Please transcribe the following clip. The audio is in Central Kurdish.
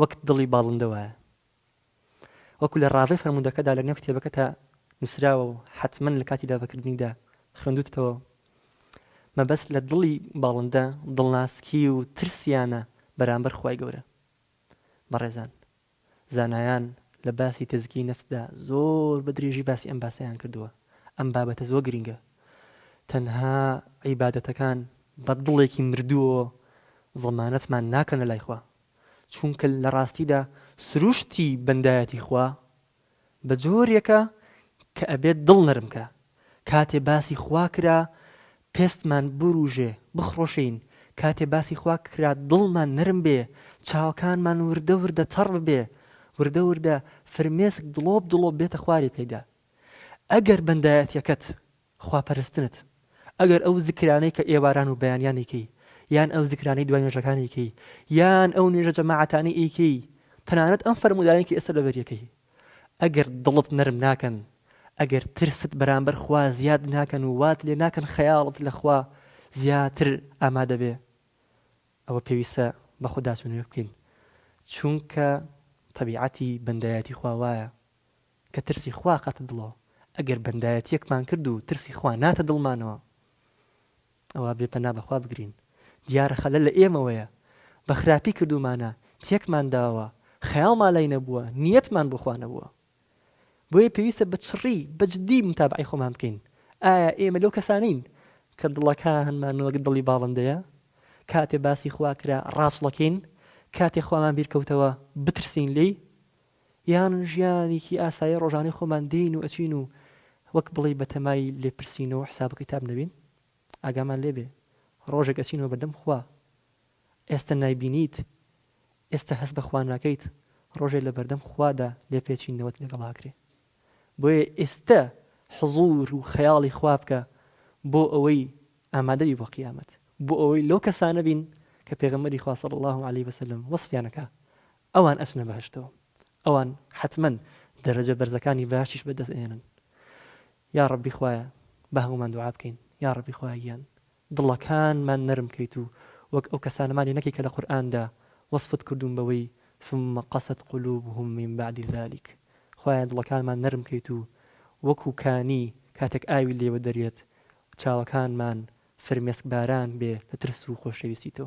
وەک دڵی باڵندە وایە. وەکو لە ڕاڤەی فەرموودەکەدا لە نێو کتێبەکەتا نووسراوە و حەتمەن لە کاتی دابەکردنیدا خوێندووتتەوە، مەبەست لە دڵی باڵندە دڵناسکی و ترسیانە بەرامبەر خوای گەورە. بەڕێزان زانایان لە باسی تەزکیەی نەفسدا زۆر بە درێژی باسی ئەم باسەیان کردووە، ئەم بابەتە زۆر گرینگە. تەنها عیبادەتەکان بە دڵێکی مردووەوە زەمانەتمان ناکەن لە لای خوا، چونکە لە ڕاستیدا سروشتی بەندایەتی خوا بە جۆرێکە کە ئەبێت دڵ نەرم کا، کاتێ باسی خوا کرا پێستمان بورووژێ، بخڕۆشێین، کاتێ باسی خوا کرا دڵمان نەرم بێ، چاوەکانمان وردە وردە تەڕ ببێ، وردە وردە فرمێسک دڵۆپ دڵۆپ بێتە خواری پێدا. ئەگەر بەندایەتیەکەت، خوا پەرستنت، ئەگەر ئەو زکرانەی کە ئێواران و بەیانیان ئەیکەی، یان ئەو زکرانەی دوای نوێژەکان ئەیکەی، یان ئەو نوێژە جەماعەتانەی ئەیکەی، تەنانەت ئەم فەرموودانەی کە ئێستا لەبەری ئەکەی، ئەگەر دڵت نەرم ناکەن، ئەگەر ترست بەرامبەر خوا زیاد ناکەن و وات لێ ناکەن خەیاڵت لە خوا زیاتر ئامادە بێ، ئەوە پێویستە بە خوداچوونەوە بکەین، چونکە تەبیعەتی بەندایەتی خوا وایە. کە ترسی خوا ئەکاتە دڵەوە، ئەگەر بەندایەتییەکمان کرد و ترسی خوا ناتە دڵمانەوە، ئەوا بێ پەنا بەخوا بگرین، دیارە خەلەل لە ئێمەوەیە، بە خراپی کردوومانە، تێکمان داوە، خەیاڵمان لای نەبووە، نیەتمان بۆ خوا نەبووە. بۆیە پێویستە بە چڕی، بە جدی موتابەعەی خۆمان بکەین، ئایا ئێمە لەو کەسانەین، کە دڵەکانمان وەک دڵی باڵندەیە، کاتێ باسی خوا کرا ڕاچڵەکێین، کاتێ خوامان بیرکەوتەوە بترسین لێی، یان ژیانیکی ئاسایی ڕۆژانەی خۆمان دێین و ئەچین و وەک بڵێی بەتەمای لێپرسین و حساب و کیتاب نەبین؟ ئاگامان لێبێ ڕۆژێک ئەچینەوە بەردەم خوا ئێستە نایبینیت ئێستە هەست بە خوا ناکەیت ڕۆژێ لەبەردەم خوادا لێپێچینەوەت لەگەڵ ئاکرێ بۆیە ئێستە حزور و خەیاڵی خوا بکە بۆ ئەوەی ئامادەبی بۆ قیامەت بۆ ئەوەی لەو کەسانە بین کە پێغەمبەری خوا صلی اللە علیە وسلم وەسفیان ئەکا ئەوان ئەچنە بەهەشتەوە ئەوان حەتمەن دەرەجە بەرزەکانی بەهەشتیش بەدەست ئەهێنن یاڕەبی خوایە باهەموومان دوعا بکەین یاڕەبی خوایە گیان دڵەکانمان نەرم کەیت و وەک ئەو کەسانەمان لێ نەکەی کە لە قورئاندا وەسفت کردوون بەوەی ثم قست قلوبهم من بعد ذلک خوایە دڵەکانمان نەرم کەیت و وەکو کانی کاتێک ئاوی لێوە دەریێت چاوەکانمان فرمێسک باران بێ لە ترس و خۆشەویستی تۆ.